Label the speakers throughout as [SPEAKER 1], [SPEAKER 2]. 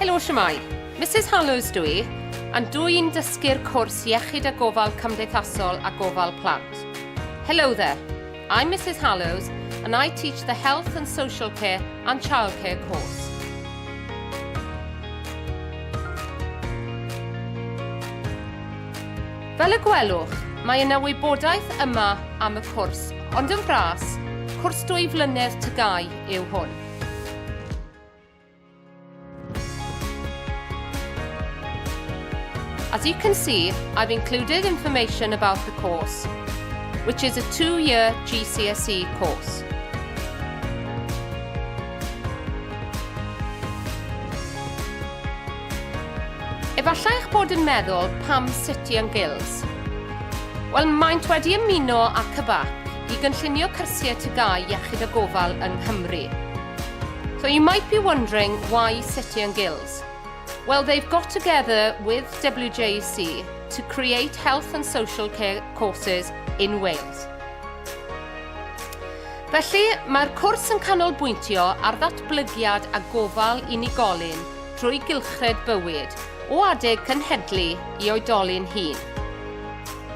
[SPEAKER 1] Helo, siamai. Mrs Hallows dw i, and dw i'n dysgu'r cwrs Iechyd a Gofal Cymdeithasol a Gofal Plant. Hello there, I'm Mrs Hallows and I teach the Health and Social Care and Childcare course. Fel y gwelwch, mae yna wybodaeth yma am y cwrs, ond yn fras, cwrs dwy flynedd tygau yw hwn. As you can see, I've included information about the course, which is a two-year GCSE course. Efallai eich bod yn meddwl pam City and Guilds. Wel, maent wedi ymuno ac y bac. i gynllunio cyrsiau TGAU iechyd a gofal yng Nghymru. So you might be wondering why City and Guilds? Well, they've got together with WJEC to create health and social care courses in Wales. Felly, mae'r cwrs yn canolbwyntio ar ddatblygiad a gofal unigolyn drwy gylchred bywyd o adeg cynhedlu i oedolyn hun.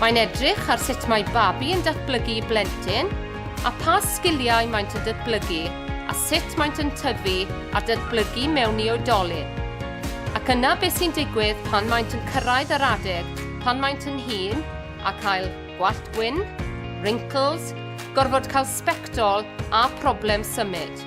[SPEAKER 1] Mae'n edrych ar sut mae babi yn datblygu i blentyn, a pha sgiliau maent yn datblygu a sut maent yn tyfu a datblygu mewn i oedolyn. Ac yna beth sy'n digwydd pan maent yn cyrraedd yr adeg pan maent yn hŷn a cael gwallt gwyn, wrinkles, gorfod cael sbectol a problem symud.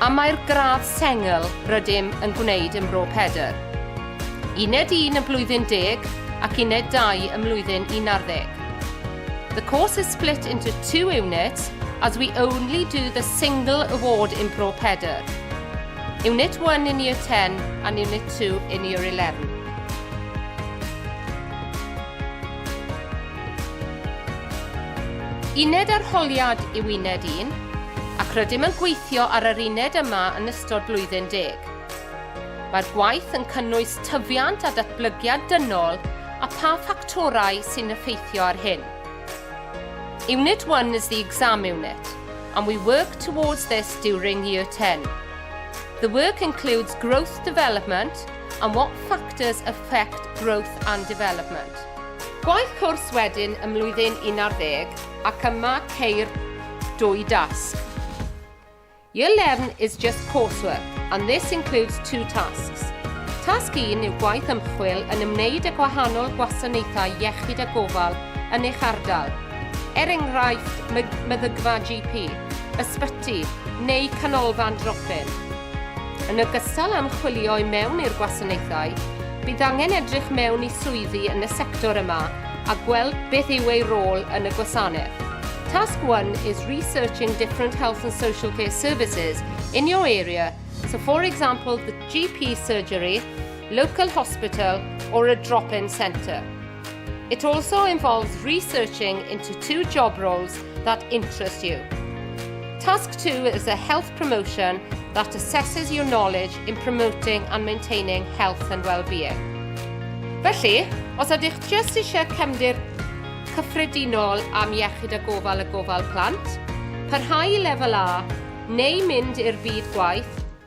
[SPEAKER 1] A mae'r gradd sengl rydym yn gwneud ym Mro Pedr. Uned un ym mhlwyddyn deg ac uned dau ym mlwyddyn unarddeg. The course is split into two units as we only do the single award in Mro Pedr. Unit one in year ten and unit two in year eleven. Uned arholiad yw uned un, ac rydym yn gweithio ar yr uned yma yn ystod blwyddyn deg. Mae'r gwaith yn cynnwys tyfiant a datblygiad dynol a pha ffactorau sy'n effeithio ar hyn. Unit 1 is the exam unit, and we work towards this during year 10. The work includes growth development and what factors affect growth and development. Gwaith cwrs wedyn ym mlwyddyn un ar ddeg ac yma ceir dwy dasg. Year 11 is just coursework and this includes two tasks. Tasg 1 yw gwaith ymchwil yn ymwneud â gwahanol gwasanaethau iechyd a gofal yn eich ardal, er enghraifft meddygfa GP, ysbyty neu canolfan drop-in. Yn ogystal â ymchwilio i mewn i'r gwasanaethau, Bydd angen edrych mewn i swyddi yn y sector yma a gweld beth yw ei rôl yn y gwasanaeth. Task one is researching different health and social care services in your area, so for example the GP surgery, local hospital or a drop-in centre. It also involves researching into two job roles that interest you. Task 2 is a health promotion that assesses your knowledge in promoting and maintaining health and well-being. Felly, os ydych jyst eisiau cefndir cyffredinol am iechyd a gofal y gofal plant, parhau i lefel A neu mynd i'r byd gwaith,